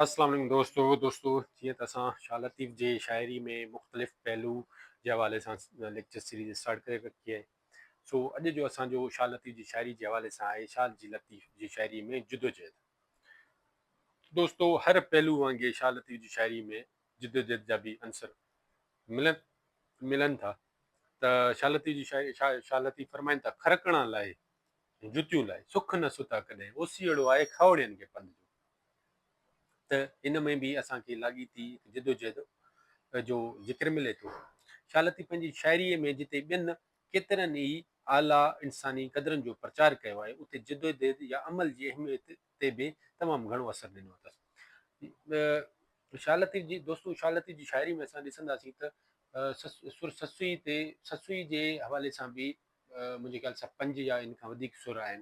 السلام عليڪم دوستو دوستو جيئن ته اسان شاهه لطيف جي شاعري ۾ مختلف پهلو جي حوالي سان ليڪچر سيريز اسٽارٽ ڪري رکي آهي سو اڄ جو اسان جو شاهه لطيف جي شاعري جي حوالي سان آهي شاهه جي لطيف جي شاعري ۾ جدوجهد دوستو هر پهلو وانگي شاهه لطيف جي شاعري ۾ جدوجهد جا به عنصر ملن ملن ٿا ته شاهه لطيف جي شاعري شاهه لطيف فرمائن ٿا کرڪڻا لاء جتيون لاء سک نه ستا ڪڏهن اوسيئڙو آهي کاوڙين کي پنڌ جو ته ان ۾ به اسان کي لاڳيتي هڪ جدوجهد جو ذڪر ملي ٿو. شالتي پنهنجي شاعريء ۾ جتي ٻين ڪيترن ئي اعليٰ انساني قدرن جو پرچار ڪيو آهي، اتي جدوجهد يا عمل جي اهميت تي به تمام گهڻو اثر ڏنو اٿس. شالتي جي دوستو شالتي جي شاعريء ۾ اسان ڏسنداسين ته سر سسئي تي سسئي جي حوالي سان به منهنجي خيال سان پنج يا ان کان وڌيڪ سر آهن.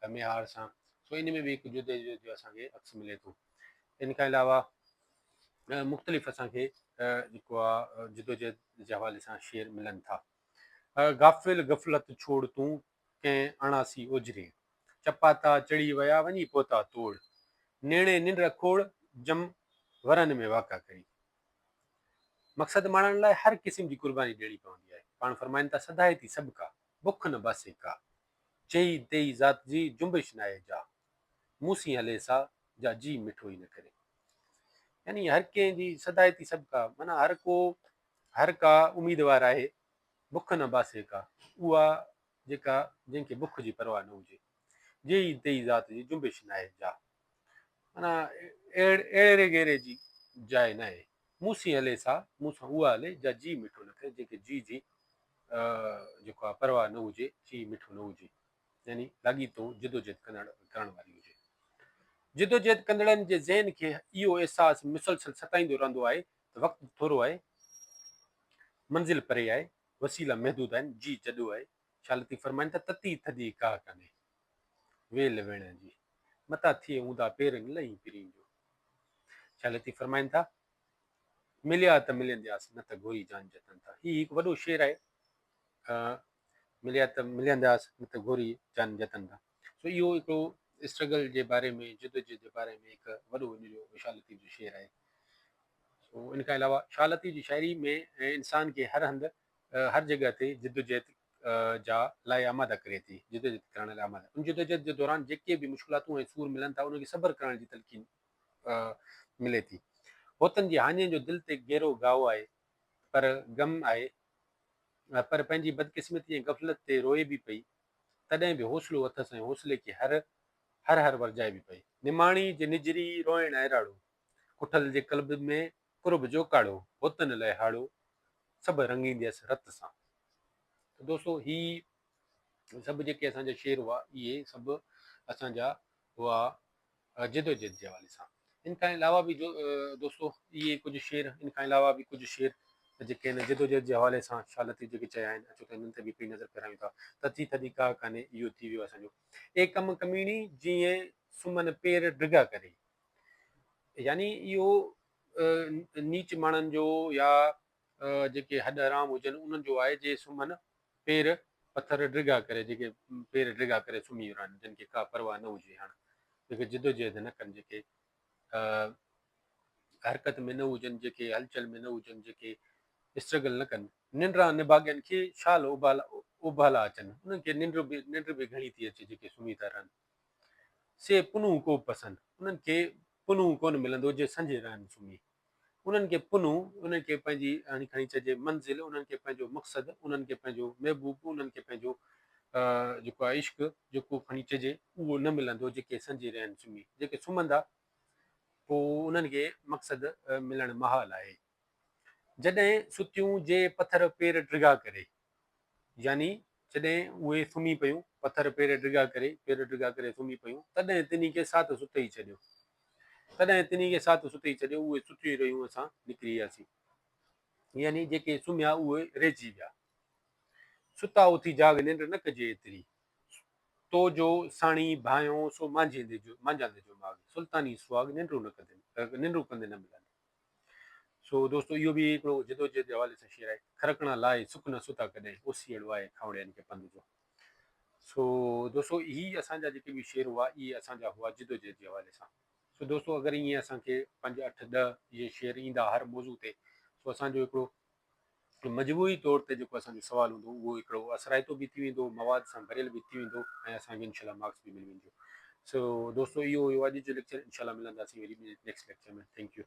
ته ميهار سان سو ان ۾ به هڪ جدي جدي جو اسان کي عڪس ملي ٿو. ان کان علاوه مختلف اسان کي جيڪو آ جدوجهد جي حوالي سان شعر ملن ٿا. غافل غفلت ڇوڙ تون ڪنهن اڻاسي اوجهري چپاتا چڙهي ويا وڃي پهتا توڙ نيڻي ننڊ اکوڙ جم ورن ۾ واڪا ڪري. مقصد ماڻڻ لاء هر قسم جي قرباني ڏيڻي پوندي آهي. پاڻ فرمائن ٿا سڌائي ٿي سڀڪا بک نه باسي ڪا. چئي تيئي ذات جي جنبش ناهي جا، مون سين هلي سا، جا جي مٺو ئي نه ڪري. يعني هر ڪنهن جي سدائتي سڀڪا، معنيٰ هر ڪو، هر ڪا اميدوار آهي، بک نه باسي ڪا، اها جيڪا جنهن کي بک جي پرواهه نه هجي. چئي تيئي ذات جي جنبش ناهي جا، معنيٰ اهڙي غيري جي جاء ناهي. مون سين هلي سا، مون سان اها هلي، جا جي مٺو نه ڪري، جنهن کي جي جي جيڪو آهي پرواهه نه هجي، جي مٺو نه هجي، يعني لاڳيتو جدوجهد ڪندڙ ڪرڻ واري هجي. جدوجهد ڪندڙن جي ذهن کي اهو احساس مسلسل ستائيندو رهندو آهي ته وقت ٿورو آهي، منزل پري آهي، وسيلا محدود آهن، جي جڏو آهي، شاهه لطيف فرمائن ٿا، تتي ٿڌي ڪاهه ڪانهي. ويل ويڻ جي، متان ٿئي اوندا پيرنگ لئين پرين جو. شاهه لطيف فرمائن ٿا، مليا ته مليندياس نه ته گهوري جان جتن ٿا. هي هڪ وڏو شعر آهي، مليا ته مليندياس نه ته گهوري جان جتن ٿا. سو اهو هڪڙو اسٽرگل جي باري ۾ جدوجهد جي باري ۾ هڪ وڏو ان جو شاهه لطيف جو شعر آهي. سو ان کان علاوه شاهه لطيف جي شاعري ۾ انسان کي هر هنڌ هر جڳهه تي جدوجهد جا لاء آماده ڪري ٿي جدوجهد ڪرڻ لاء آماده ان جدوجهد جي دوران جيڪي به مشڪلاتون ۽ سور ملن ٿا انهن کي صبر ڪرڻ جي تلقين ملي ٿي هوتن جي هاڃين جو دل تي گهرو گهاء آهي پر غم آهي پر پنهنجي بدقسمتي ۽ غفلت تي روئي به پئي تڏهن به حوصلو اٿس ۽ حوصلي کي هر هر هر ورجائي به پئي. نماڻي جي نجري روئڻ ۽ راڙو ڪٺل جي قلب ۾ قرب جو ڪاڙهو، بتن لئه هاڙهو، سڀ رڱينديس رت سان. ته دوستو هي سڀ جيڪي اسان جا شعر هئا اهي سڀ اسان جا هئا جدوجهد جي حوالي سان. ان کان علاوه به جو دوستو اهي ڪجهه شعر ان کان علاوه به ڪجهه شعر جيڪي هن جدوجهد جي حوالي سان شاهه لطيف جيڪي چيا آهن اچو ته انهن تي به هڪڙي نظر ڦيرايون ٿا ته ٿي ٿڌي ڪا ڪانهي اهو ٿي ويو اسان جو اي ڪم ڪميڻي جيئن سمن پير ڊگها ڪري. يعني اهو نيچ ماڻهن جو يا جيڪي هڏ حرام هجن انهن جو آهي جي سمهن پير پٿر ڊگها ڪري جيڪي پير ڊگها ڪري سمهي رهن جن کي ڪا پرواهه نه هجي هاڻ جيڪي جدوجهد نه ڪن جيڪي حرڪت ۾ نه هجن جيڪي هلچل ۾ نه هجن جيڪي اسٽرگل نه ڪن ننڊران نڀاڳين کي شال اوڀالا اوڀالا اچن انهن کي ننڊ به ننڊ به گهڻي ٿي اچي جيڪي سمهي ٿا رهن سي پنهون ڪوبه پسند انهن کي پنهون ڪونه ملندو جي سنجهي رهن سمهي انهن کي پنهون انهن کي پنهنجي هڻي کڻي چئجي منزل انهن کي پنهنجو مقصد انهن کي پنهنجو محبوب انهن کي پنهنجو جيڪو آهي عشق جيڪو کڻي چئجي اهو نه ملندو جيڪي سنجهي رهن سمهي جيڪي سمهندا پوء انهن کي مقصد ملڻ محال آهي جڏهن ستيون جي پٿر پير ڊگها ڪري، يعني جڏهن اهي سمهي پيون، پٿر پير ڊگها ڪري، پير ڊگها ڪري سمهي پيون، تڏهن تنهن کي ساٿ ستئي ڇڏيو. تڏهن تنهن کي ساٿ ستئي ڇڏيو، اهي ستيون رهيون اسان نڪري وياسين. يعني جيڪي سمهيا اهي رهجي ويا. ستا اٿي جاڳ ننڊ نه ڪجي ايتري، تو جو ساڻي ڀانئيو سو مانجهيندي جو مانجهاندي جو ماڳ، سلطاني سهاڳ ننڊون نه ڪندين ننڊون ڪندين نه ملندين. سو دوستو اهو به هڪڙو جدوجهد جي حوالي سان شعر آهي. کرکڻا لاء سڪ نه ستا ڪڏهن، اوسيئڙو آهي کانوڙيائن کي پنڌ جو. سو دوستو هي اسان جا جيڪي به شعر هئا اهي اسان جا هئا جدوجهد جي حوالي سان. سو دوستو اگر ائين اسان کي پنج اٺ ڏهه اهي شعر ايندا هر موضوع تي سو اسان جو هڪڙو مجموعي طور تي جيڪو اسان جو سوال هوندو اهو هڪڙو اثرائتو به ٿي ويندو، مواد سان ڀريل به ٿي ويندو ۽ اسان کي انشاء الله مارڪس به ملي وينديون. سو دوستو اهو هيو اڄ جو ليڪچر انشاء الله ملنداسين وري ٻي نيڪسٽ ليڪچر ۾ ٿينڪ يو.